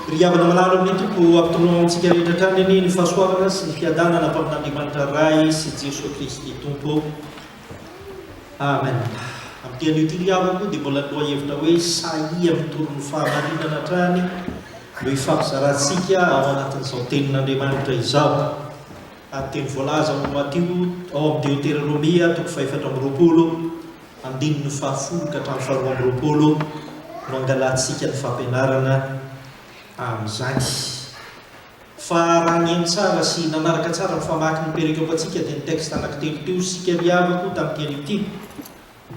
Ry havana malala amin'ny Tompo, ampitonoao amintsika rehetra hatrany anie ny fahasoavana sy ny fiadanana atao amin'Andriamanitra Ray sy Jesoa Kristy Tompo. Amen. Amin'ny dia anio ity ry havana moa dia mbola ny lohahevitra hoe sahia mitory ny fahamarinana hatrany no hifampizarantsika ao anatin'izao tenin'Andriamanitra izao. Ary dia ny voalaza ao amin'ny Matio, ao amin'ny Deoterônomia, toko fahefatra amby roapolo, Andininy fahafolo ka hatramin'ny faharoa amby roapolo no angalatsika ny fampianarana amin'izany. Fa raha nihaino tsara sy nanaraka tsara ny famaky ny perikôpa antsika dia ny texte anankitelo teo isika ry havako tamin'ity anio ity.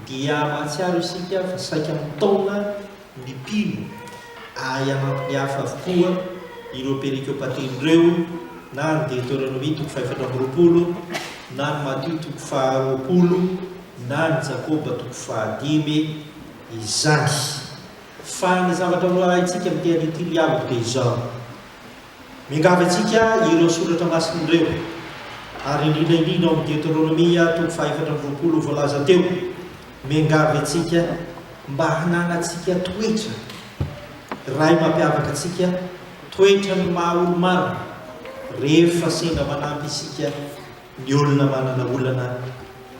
Dia mahatsiaro isika fa saika mitaona ny mpino ahay hanampy ny hafa avokoa ireo perikopateny ireo na ny Deoteronomia toko fahefatra amby roapolo na ny Matio toko faharoapolo na ny Jakoba toko fahadimy izany. Fa ny zavatra ho ahaintsika amin'ity anio ity ny aloha dia izao. Miangavy antsika ireo soratra masina ireo, ary indrindra indrindra ao amin'ny Deteronomia toko fahefatra amby roapolo ho voalaza teo, miangavy antsika mba hananantsika toetra iray mampiavaka antsika, toetra ny maha olo-marina, rehefa sendra manampy isika ny olona manana olana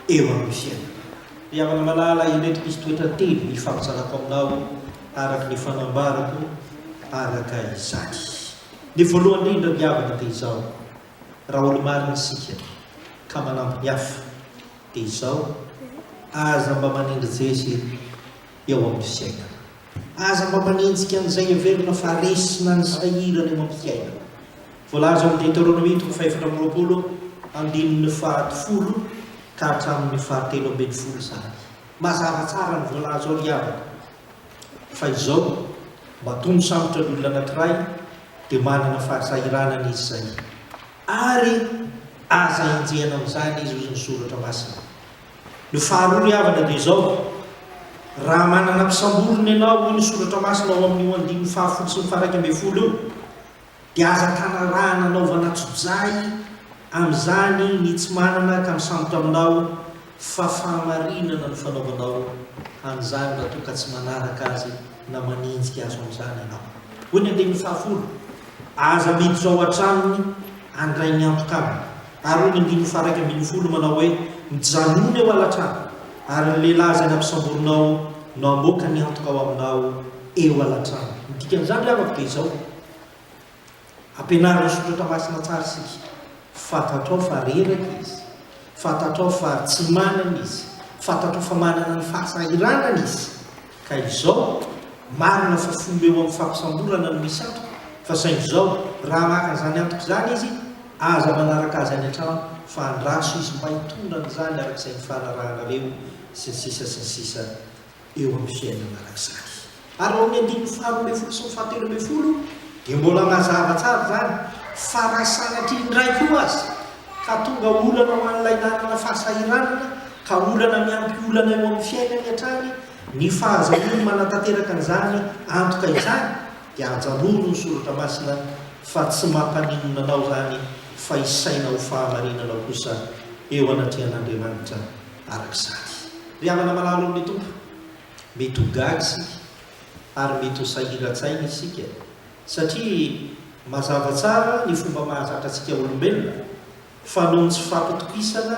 eo amin'ny fiainana. Ry havana malala, ireto misy toetra telo hifampizarako aminao araka ny fanambarako araka izany. Ny voalohany indrindra, ry havana, dia izao, raha olo-marina isika ka manampy ny hafa, dia izao, aza mba manendry jezy eo amin'ny fiainana. Aza mba manenjika an'izay heverina fa resy na ny sahirana eo amin'ny fiainana. Voalaza ao amin'ny Deteronomia toko fahefatra amby roapolo andininy fahafolo ka hatramin'ny fahatelo ambin'ny folo izany. Mazava tsara ny voalaza ao ry havana fa izao, mba tony sarotra ny olona anankiray dia manana fahasahiranana izy izay, ary aza enjehina amin'izany izy, hoy ny Soratra Masina. Ny faharoa ry havana dia izao, raha manana mpisamborina ianao, hoy ny Soratra Masina ao amin'io andininy fahafolo sy ny faharaika ambin'ny folo io, Dia aza tanarahana anaovana tsojay amin'izany ny tsy manana ka misambotra aminao fa fahamarinana no fanaovanao an'izany raha toa ka tsy manaraka azy na manenjika azo amin'izany ianao. Hoy ny andininy fahafolo, Aza miditra ao an-tranony handray ny antoka aminy. Ary hoy ny andininy faha-iraika ambin'ny folo manao hoe, Mijanona eo ala-trano, ary ny lehilahy izay nampisamborinao no hamoaka ny antoka ao aminao eo ala-trano. Ny dikan'izany ry havako dia izao, Ampianaro ny soratra masina tsara isika. Fantatrao fa reraka izy. Fantatrao fa tsy manana izy. Fantatrao fa manana ny fahasahiranana izy. Ka izao, marina fa fomba eo amin'ny fampisamborana no misy antoka, fa saingy izao, raha maka an'izany antoka izany izy, aza manaraka azy any an-trano, fa andraso izy mba hitondra an'izany araka izay nifanarahanareo, sy ny sisa sy ny sisa eo amin'ny fiainana arak'izany. Ary ao amin'ny andininy faharoa ambin'ny folo sy ny fahatelo ambin'ny folo dia mbola mazava tsara izany fa raha sanatria indray koa aza ka tonga olana ho an'ilay nanana fahasahiranana ka olana miampy olana eo amin'ny fiainany hatrany ny fahazahoany manatanteraka an'izany antoka izany dia ajanoro ny soratra masina fa tsy mampaninona anao izany fa isaina ho fahamarinana kosa eo anatrehan'Andriamanitra Araka izany, ry havana malalo amin'ny Tompo, mety ho gaga isika ary mety ho sahiran-tsaina isika, satria mazava tsara ny fomba mahazatra antsika olombelona fa noho ny tsy fampitokisana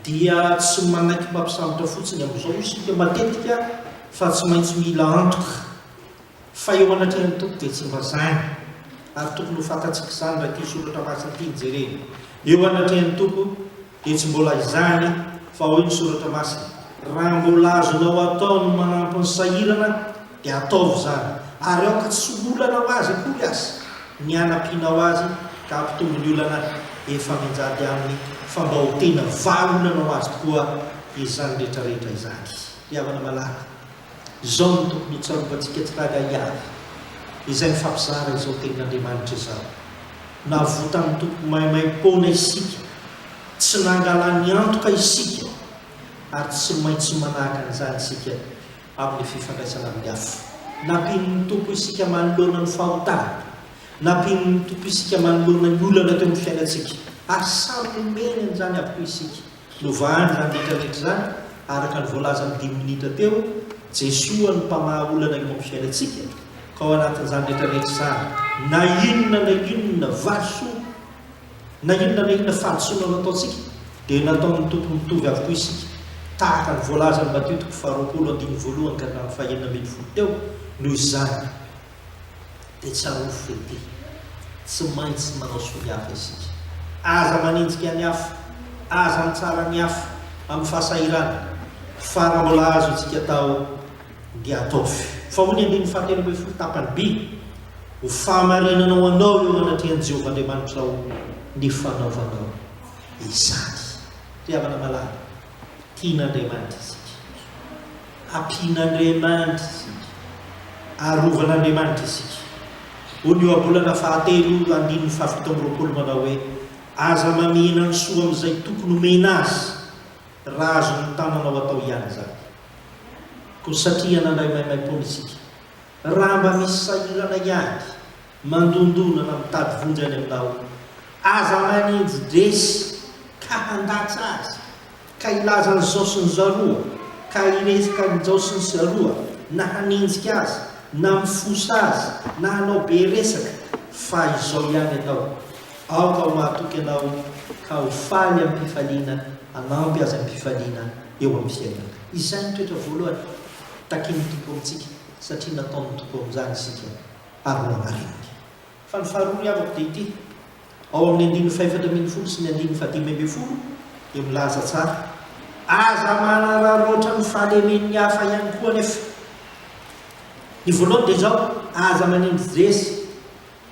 dia tsy manaiky mpampisambotra fotsiny amin'izao isika matetika fa tsy maintsy mila antoka fa eo anatrehan'ny Tompo dia tsy mba zany. Ary tokony ho fantatsika izany raha ity soratra masina ity no jerena, eo anatrehan'ny Tompo Dia tsy mbola izany fa hoy ny soratra masina, Raha mbola azonao atao ny manampy ny sahirana dia ataovy izany, ary aoka tsy ho olana ho azy akory aza ny hanampianao azy ka hampitombo ny olana efa mianjady aminy, fa mba ho tena vahaolana ho azy tokoa izany rehetra rehetra izany. Ry havana malala. Izao no tokony hotsaroantsika tsirairay avy, izay mifampizara izao Tenin'Andriamanitra izao. Navotan'ny Tompo maimaim-poana isika, tsy nangalany antoka isika, ary tsy maintsy manahaka an'izany isika amin'ny fifandraisana amin'ny hafa. Nampian'ny Tompo isika manoloana ny fahotana. Nampian'ny Tompo isika manoloana ny olana teo amin'ny fiainantsika, ary samy nomeny an'izany avokoa isika. Novahany nandritra rehetra izany, araka ny voalazan'ny dimy minitra teo, Jesoa no mpamaha olana eo amin'ny fiainantsika, ka ao anatin'izany rehetra rehetra izany, na inona na inona valisoa, na inona na inona fahadisoana nataontsika, dia nataon'ny Tompo mitovy avokoa isika, tahaka ny voalazan'i Matio toko faharoapolo andininy voalohany ka hatramin'ny fahenina ambin'ny folo teo, noho izany, dia tsarovy fa ity, tsy maintsy manao soa ny hafa isika. Aza manenjika ny hafa, aza mitsara ny hafa amin'ny fahasahirana, fa raha mbola azo isika atao dia ataovy. Fa hoy ny andininy fahatelo ambin'ny folo tapany B, Ho fahamarinana ho anao eo anatrehan'i Jehovah Andriamanitrao ny fanaovanao izany. Ry havana malala, Tian'Andriamanitra isika. Ampian'Andriamanitra isika. Arovan'Andriamanitra isika. Hoy ny ohabolana fahatelo, andininy fahafito amby roapolo manao hoe, Aza mamihena ny soa amin'izay tokony homena azy, raha azon'ny tananao atao ihany izany. Koa satria nandray maimaim-poana isika, raha mba misy sahirana ihany, Mandondona fa mitady vonjy any am-bao. Aza manenjy dresy ka handatsa azy, ka hilaza an'izao sy ny zaroa, ka hirezaka an'ijao sy ny zaroa, na hanenjika azy, na mifosa azy, na hanao be resaka, fa izao ihany atao, Aoka ho mahatoky anao ka ho faly amim-pifaliana, hanampy azy amim-pifaliana eo amin'ny fiainana. Izay no toetra voalohany takin'ny Tompo amintsika, satria nataon'ny Tompo amin'izany isika. ary nohamarininy. Fa ny faharoa ry havako dia ity, ao amin'ny andininy fahefatra ambin'ny folo sy ny andininy fahadimy ambin'ny folo dia milaza tsara, Aza manararaotra ny fahalemen'ny hafa ihany koa anefa. Ny voalohany dia izao, Aza manindry zeza,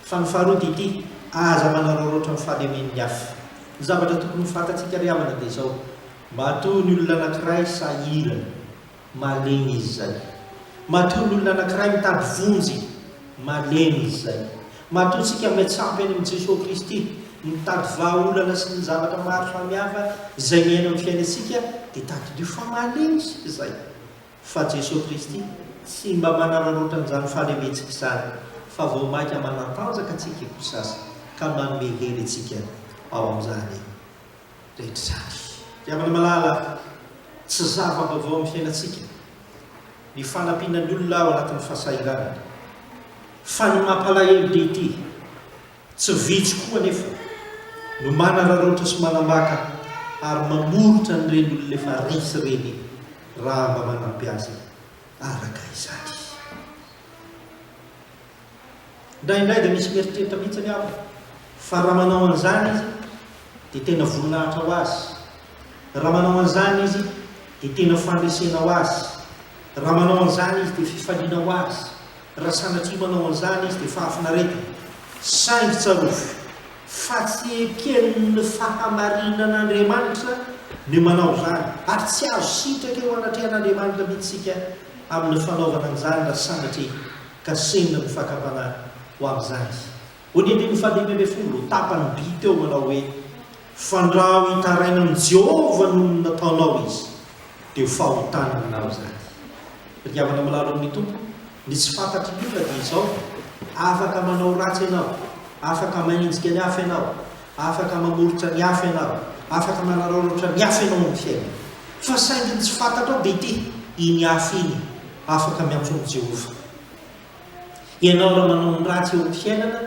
fa ny faharoa dia ity, Aza manararaotra ny fahalemen'ny hafa. Ny zavatra tokony ho fantatsika ry havana dia izao, Matoa ny olona anankiray sahirana. Malemy izy izay. Matoa ny olona anankiray mitady vonjy, malemy izy izay. Matoa isika miantsampy any amin'i Jesoa Kristy, mitady vahaolana sy ny zavatra maro samihafa izay miaina amin'ny fiainantsika, dia tadidio fa malemy isika izay. Fa Jesoa Kristy tsy mba manararaotra an'izany fahalementsika izany, fa vao mainka manatanjaka antsika koa sasa, ka manome hery antsika ao amin'izany. rehetrarehetra. Ry havana malala, tsy zava-baovao amin'ny fiainantsika ny fanampiana ny olona ao anatin'ny fahasahiranana. Fa ny mampalahelo dia ity, tsy vitsy koa anefa no manararaotra sy manambaka ary mamoritra an'ireny olona efa resy ireny raha mba manampy azy araka izany. Indraindray dia misy mieritreritra mihitsy anie aho fa raha manao an'izany izy dia tena voninahitra ho azy, raha manao an'izany izy dia tena fandresena ho azy, raha manao an'izany izy dia fifaliana ho azy, raha sanatria manao an'izany izy dia fahafinaretana. Saingy tsarovy fa tsy eken'ny fahamarinan'Andriamanitra ny manao izany, ary tsy azo sitraka eo anatrehan'Andriamanitra mihitsy isika amin'ny fanaovana an'izany raha sanatria. ka sendra ny fakam-panahy ho amin'izany izy. Ho ny andininy fahadimy ambin'ny folo, tapany by teo manao hoe, Fandrao hitaraina amin'i Jehovah noho ny nataonao izy, dia ho fahotana aminao izany. Ry havana milalo amin'ny Tompo, ny tsy fantatry ny olona dia izao, Afaka manao ratsy ianao, afaka mahenjika ny hafa ianao, afaka mamoritra ny hafa ianao, afaka manaraoraotra ny hafa ianao amin'ny fiainana, fa saingy ny tsy fantatrao dia ity, iny hafa iny. Afaka miantso an'i Jehovah ianao raha manao ny ratsy eo amin'ny fiainana.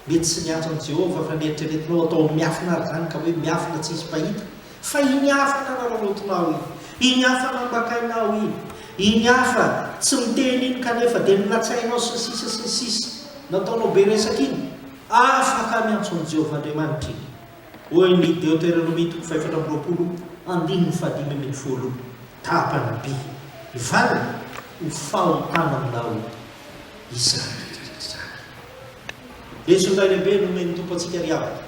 Mety tsy miantso an'i Jehovah, fa nieritreretinao atao amin'ny miafina àry izany, ka hoe miafina tsy hisy mpahita. Fa iny hafa nanararaotinao iny, iny hafa nambakainao iny, iny hafa tsy niteny iny kanefa dia nilatsahinao sy ny sisa sy ny sisa, nataonao be resaka iny, afaka miantso an'i Jehovah Andriamanitra iny. Hoy ny Deoteronomia toko fahefatra amby roapolo andininy fahadimy ambin'ny folo, Tapany be ny valiny ho fahotana aminao izany rehetra izany. Lesona iray lehibe nomen'ny Tompo antsika ry havana.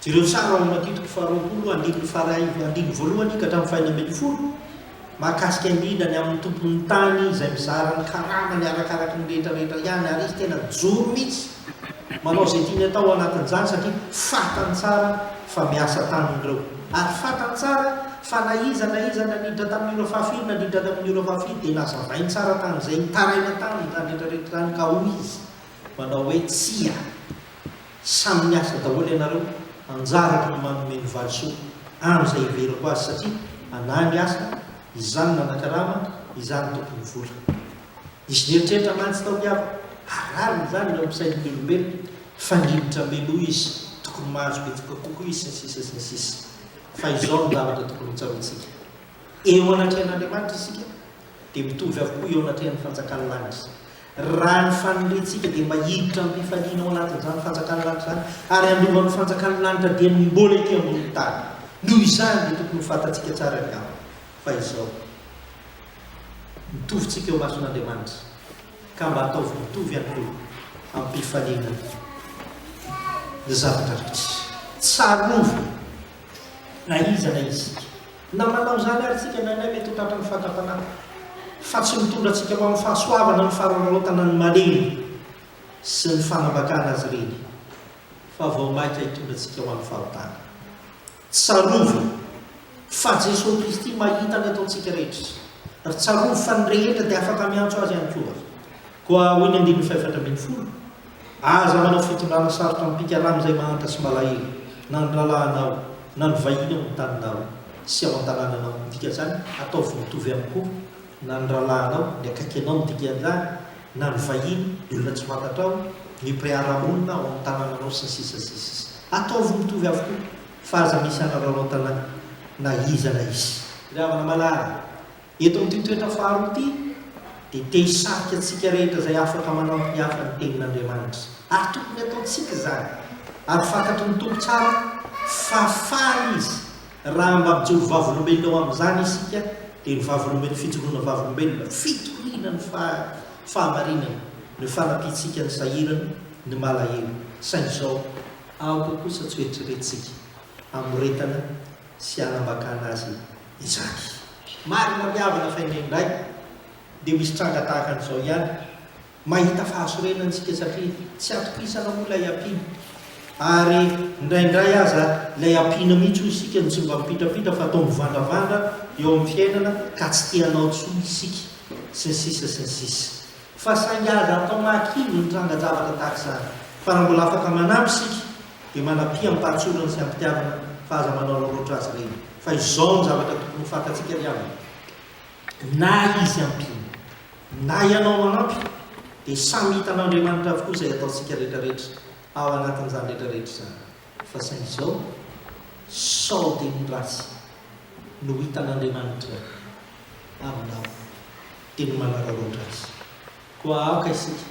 Jereo sary ao amin'ny Matio toko faharoapolo andininy faharay andininy voalohany ka hatramin'ny fahena ambin'ny folo. Mahakasika indrindra ny amin'ny tompon'ny tany izay mizara ny karamany arakaraky ny rehetra rehetra ihany ary izy tena joro mihitsy manao izay tiany atao anatin'izany satria fatany tsara fa miasa taminy ireo ary fatany tsara fa na iza na iza nandritra tamin'ny ora fahafiry nandritra tamin'ny ora fahafiry dia nazavainy tsara tamin'izay nitaraina taminy izany rehetra rehetra izany ka hoy izy manao hoe tsia Samy miasa daholo ianareo, anjarako ny manome ny valisoa amin'izay hiveriko azy satria anah ny asa, izaho no nanakarama, izaho no tompon'ny vola. Nisy nieritreritra mantsy tao ny havako ary rariny izany eo amin'ny sain'ny olombelona fa ny rivotry Meloa izy tokony mahazo betsaka kokoa izy sy ny sisa sy ny sisa. Fa izao no zavatra tokony hotsaroantsika, eo anatrehan'Andriamanitra isika dia mitovy avokoa eo anatrehan'ny fanjakan'ny lanitra. Raha ny fanorentsika dia mba hiditra amim-pifaliana ao anatin'izany fanjakan'ny lanitra izany ary handova ny fanjakan'ny lanitra dia ny mbola ety ambonin'ny tany. Noho izany dia tokony ho fantatsika tsara angamba fa izao, Mitovy tsika eo imason'Andriamanitra ka mba ataovy mitovy ihany koa amim-pifaliana ny zavatra rehetra. Tsarovy na iza na iza isika. Na manao izany ary isika indraindray mety ho tratran'ny fahatapanana, fa tsy mitondra antsika ho amin'ny fahasoavana ny farararaotana ny malemy sy ny fanambakana azy ireny, fa vao mainka hitondra antsika ho amin'ny fahotana. Tsarovy fa Jesoa Kristy mahita ny ataontsika rehetra, ary tsarovy fa ny rehetra dia afaka miantso Azy ihany koa. Koa hoy ny andininy fahefatra ambin'ny folo. Aza manao fitondrana sarotra amim-pikarana izay mahanta sy malahelo, na ny rahalahinao, na ny vahiny ao amin'ny taninao sy ao an-tanànanao midika izany, ataovy mitovy ihany koa, na ny rahalahinao, ny akaiky anao midika an'izany, na ny vahiny, ny olona tsy fantatrao, ny mpiara-monina ao amin'ny tanànanao sy ny sisa sy ny sisa. Ataovy mitovy avokoa fa aza misy hanaraoraotana na iza na iza. Ry havana malala, Eto amin'ity toetra faharoa ity dia te hisarika antsika rehetra izay afaka manampy ny hafa ny Tenin'Andriamanitra. Ary tokony hataontsika izany. Ary fantatry ny Tompo tsara fa faly Izy raha mba mijoro vavolombelona eo amin'izany isika, dia ny vavolombelona, fijoroana vavolombelona, fitoriana ny fahamarinana, no fanampiantsika ny sahirana, ny malahelo. Saingy izao, aoka kosa tsy hoeritreretintsika hamoretana sy hanambakana azy. izany. Marina ry havana fa indraindray dia misy tranga tahaka an'izao ihany, mahita fahasorenana isika satria tsy atokisana moa ilay ampiana ary indraindray aza ilay ampiana mihitsy hoy isika no tsy mba mipitrapitra fa toa mivandravandra eo amin'ny fiainana ka tsy te hanao intsony isika sy ny sisa sy ny sisa fa saingy aza atao mahakivy ny trangan-javatra tahaka izany fa raha mbola afaka manampy isika dia manam-piam-pahatsorana sy am-pitiavana fa aza manao loatra azy ireny. Fa izao no zavatra tokony ho fantatsika ry havana, na izy ampiana, na ianao manampy, dia samy hitan'Andriamanitra avokoa izay ataontsika rehetrarehetra ao anatin'izany rehetrarehetra izany. Fa saingy izao, sao dia ny ratsy no hitan'Andriamanitra aminao, dia ny manararaotra Azy. Koa aoka isika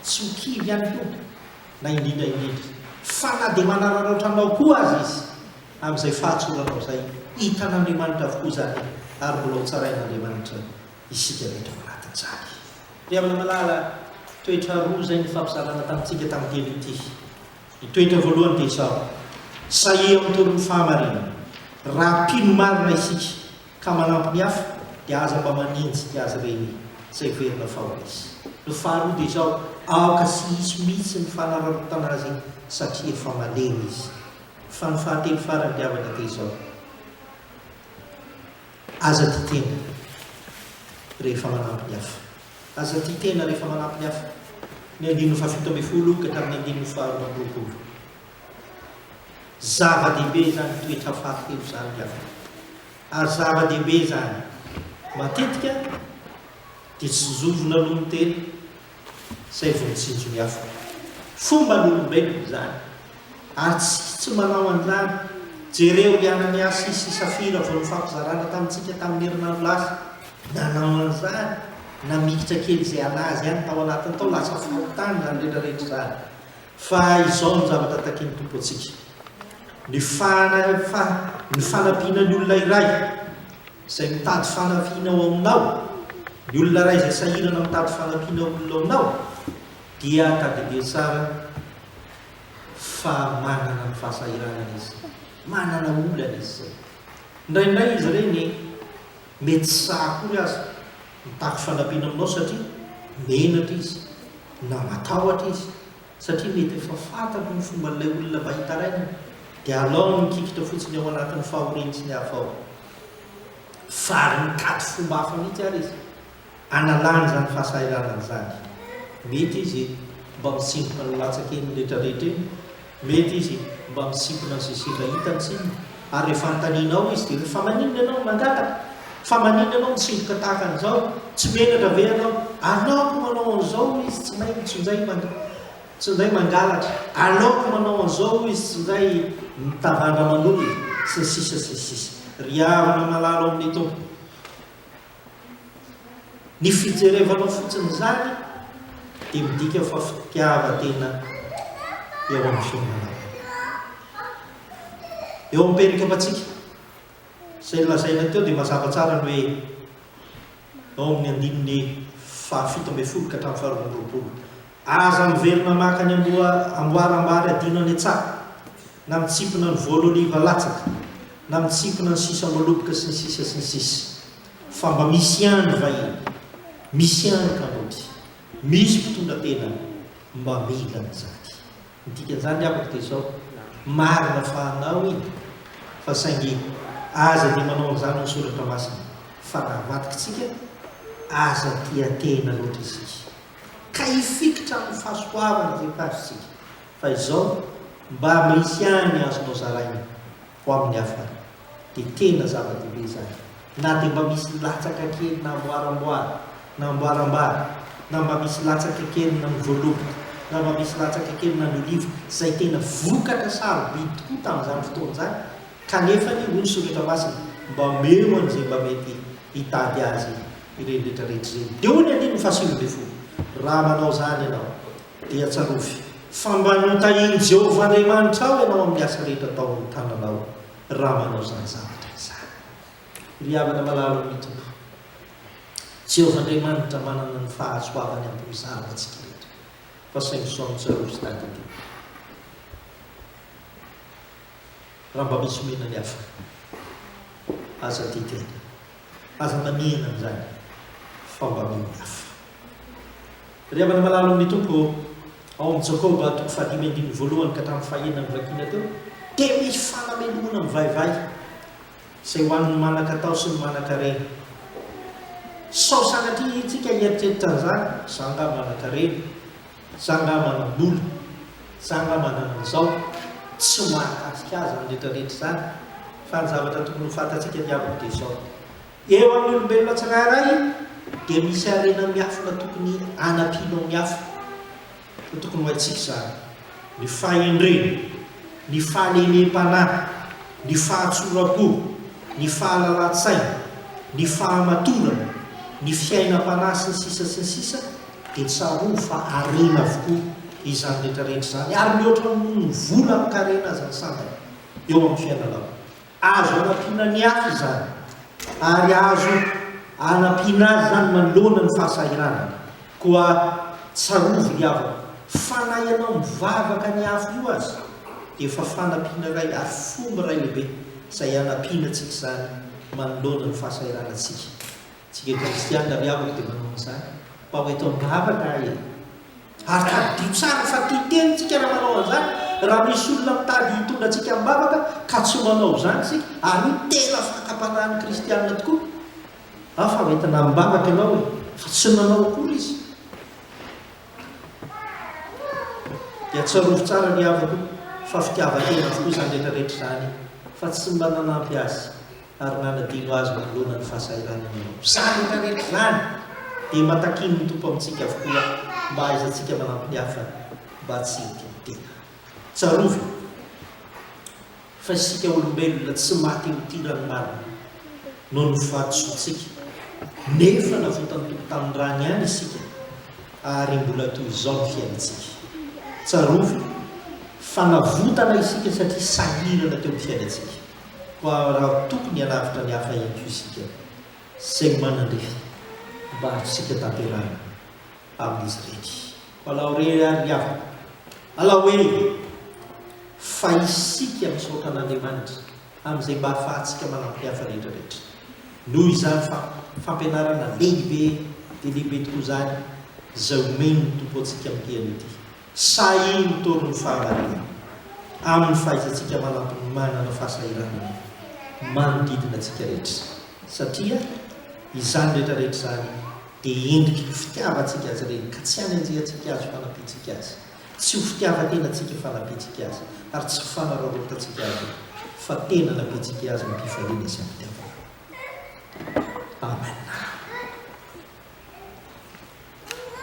tsy ho kivy ihany koa, na indrindra indrindra fa na dia manararaotra anao koa aza Izy, amin'izay fahatsoranao izay. Hitan'Andriamanitra avokoa izany, ary mbola hotsarain'Andriamanitra isika rehetra ao anatin'izany. Ry havana malala, toetra roa izay nifampizarana tamintsika tamin'ny teny ity. Ny toetra voalohany dia izao, Sahia mitory ny fahamarinana, raha mpino marina isika. Ka manampy ny hafa dia aza mba manenjika azy ireny izay heverina fa ho izy. Ny faharoa dia izao, aoka tsy hisy mihitsy ny fanararaotana azy satria efa malemy izy. Fa ny fahatelo farany ry havana dia izao, aza tia tena rehefa manampy ny hafa. Aza tia tena rehefa manampy ny hafa. Ny andininy fahafito ambin'ny folo ka hatramin'ny andininy faharoa amby roapolo. Zava-dehibe izany toetra fahatelo izany ry havana. Ary zava-dehibe izany. Matetika dia tsinjovina aloha ny tena izay vao mitsinjo ny hafa. Fomban'olombelona izany. Ary tsy tsy manao an'izany. Jereo i Ananiasy sy Safira vao nifampizarana tamintsika tamin'ny herinandro lasa. Nanao an'izany, namikitra kely izay an'azy ihany tao anatiny tao, lasa faty tany izany rehetrarehetra izany. Fa izao no zavatra takian'ny Tompo antsika, ny fa, ny fanampiana ny olona iray izay mitady fanampiana ao aminao, ny olona iray izay sahirana mitady fanampiana ho olona ao aminao, dia tadidio tsara fa manana ny fahasahiranana izy, manana olana izy izay. Indraindray izy ireny Mety tsy sahy akory aza. Mitaky fanampiana aminao satria menatra izy, na matahotra izy satria mety efa fantany ny fomban'ilay olona mba hitarainany, dia alao ny mikikitra fotsiny ao anatin'ny fahoriany sy ny hafa ao. Fary mitady fomba hafa mihitsy ary izy. Analany izany fahasahiranana izany. Mety izy mba mitsindroka ny latsak'eny retraretra eny, mety izy mba misimpona izay sendra hitany tsy inona, ary rehefa anontanianao izy dia hoe, fa maninona ianao no mangataka? Fa maninona ianao mitsindroka tahaka an'izao? Tsy menatra ve ianao? Aleoko manao an'izao hoy izy tsy may tsy indray tsy indray mangalatra, aleoko manao an'izao hoy izy tsy indray mitavandra aman'olona, sy ny sisa sy ny sisa. Ry havana malala ao amin'ny Tompo, Ny fijerevanao fotsiny izany dia midika fa fitiavan-tena eo amin'ny fiainanao. Eo amin'ny perikapantsika, izay nolazaina teo dia mazava tsara ny hoe ao amin'ny andininy fahafito ambin'ny folo ka hatramin'ny faharoa amby roapolo. Aza miverina maka ny amboara ambary adino any an-tsaha. na mitsipona ny voly oliva latsaka, na mitsipona ny sisamoloboka sy ny sisa sy ny sisa. Fa mba misy ihany ny vahiny, misy ihany ny kamaoty, misy mpitondra tena mba mila an'izany. Ny dikan'izany ry havako dia izao, marina fa hanao iny, fa saingy aza dia manao an'izany ny soratra masina, fa raha avadikitsika, aza tia tena loatra isika, ka hifikitra amin'ny fahasoavana izay tazontsika. Fa izao, mba misy ihany azonao zaraina ho amin'ny hafa, dia tena zava-dehibe izany. Na dia mba misy latsaka kely na amboaramboara, na ambarambara, na mba misy latsaka kely na mivoaloboka, na mba misy latsaka kely na mioliva, izay tena vokatra sarobidy tokoa tamin'izany fotoana izany, kanefa anie, hoy ny Soratra Masina, mba omeo an'izay mba mety hitady azy ireny rehetra rehetra ireny. Dia hoy ny andininy fahasivy ambin'ny folo, Raha manao izany ianao, Dia tsarovy fa mba notahin'i Jehovah Andriamanitrao ianao amin'ny asa rehetra tao amin'ny tananao, raha manao izany zavatra izany. Ry havana malala ao amin'ny Tompo, Jehovah Andriamanitra manana ny fahasoavany hampizara antsika rehetra, fa saingy sao mitsarovy sy tadidio raha mba misy omena ny hafa. Aza didiana, aza manihina an'izany, fa mba mino ny hafa. Ry havana malalo amin'ny Tompo ô, ao amin'ny Jakoba toko fahadimy andininy voalohany ka hatramin'ny fahenina novakiana teo, dia misy fanamelohana mivaivay izay ho an'ny manan-katao sy ny manan-karena. Sao sanatria isika hieritreritra an'izany, izaho angaha manan-karena, izaho angaha manam-bola, izaho angaha manana an'izao. Tsy mahakasika ahy izany rehetrarehetra izany, fa ny zavatra tokony ho fantatsika diabany dia izao. Eo amin'ny olombelona tsirairay dia misy harena miafina tokony hanampianao miafina. Ka tokony ho haintsika izany. Ny fahendrena, ny fahalemem-panahy, ny fahatsoram-po, ny fahalalan-tsaina, ny fahamatorana, ny fiainam-panahy sy ny sisa sy ny sisa dia tsarovy fa harena avokoa izany rehetra rehetra izany ary mihoatra noho ny vola amin-karena aza ny sandany eo amin'ny fiainanao. Azo anampiana ny hafa izany, ary azo anampiana azy izany manoloana ny fahasahiranana. Koa tsarovy ry havako, fa na ianao mivavaka ny hafa io aza, dia efa fanampiana iray ary fomba iray lehibe izay anampiana antsika izany manoloana ny fahasahiranantsika. Tsika kristiana ry havako dia manao an'izany. Mpaho eto am-bavaka aho e! Ary tadidio tsara fa tia tena isika raha manao an'izany. Raha misy olona mitady hitondra antsika am-bavaka ka tsy manao izany isika, ary io tena fakam-panahin'ny kristiana tokoa, an, fa hoentina am-bavaka ianao e! fa tsy nanao akory izy, dia tsarovy tsara ry havako fa fitiavan-tena avokoa izany rehetra rehetra izany fa tsy mba nanampy azy ary nanadino azy manoloana ny fahasahiranana eo. Izany rehetra izany dia mba takian'ny Tompo amintsika avokoa mba hahaizantsika manampy ny hafa mba tsy hitidi-tena. Tsarovy fa isika olombelona tsy maty ho tia ranomarina noho ny fahadisoantsika, nefa navotan'ny Tompo tamin'ny rany ihany isika ary mbola toy izao ny fiainantsika. Tsarovy fa navotana isika satria sahirana teo amin'ny fiainantsika. koa raha tokony hanavotra ny hafa ihany koa isika saingy manandrify mba hahazotsika tanterahina amin'izy ireny. Alao re ary ry havana, alao e! Fa isika misaotra an'Andriamanitra amin'izay mba ahafahantsika manampy ny hafa rehetra rehetra. Noho izany fa fampianarana lehibe dia lehibe tokoa izany izay omen'ny Tompo antsika amin'ity anio ity. Sahy mitory ny fahamariana amin'ny fahaizantsika manampy ny manana fahasahiranana manodidina antsika rehetra, satria izany rehetra rehetra izany dia endriky ny fitiavantsika Azy Ireny, ka tsy hanenjehantsika Azy fanampiantsika Azy, tsy ho fitiavan-tenantsika fanampiantsika Azy, ary tsy ho fanararaotantsika Azy, fa tena hanampiantsika Azy am-pifaliana sy am-pitiavana. Amen.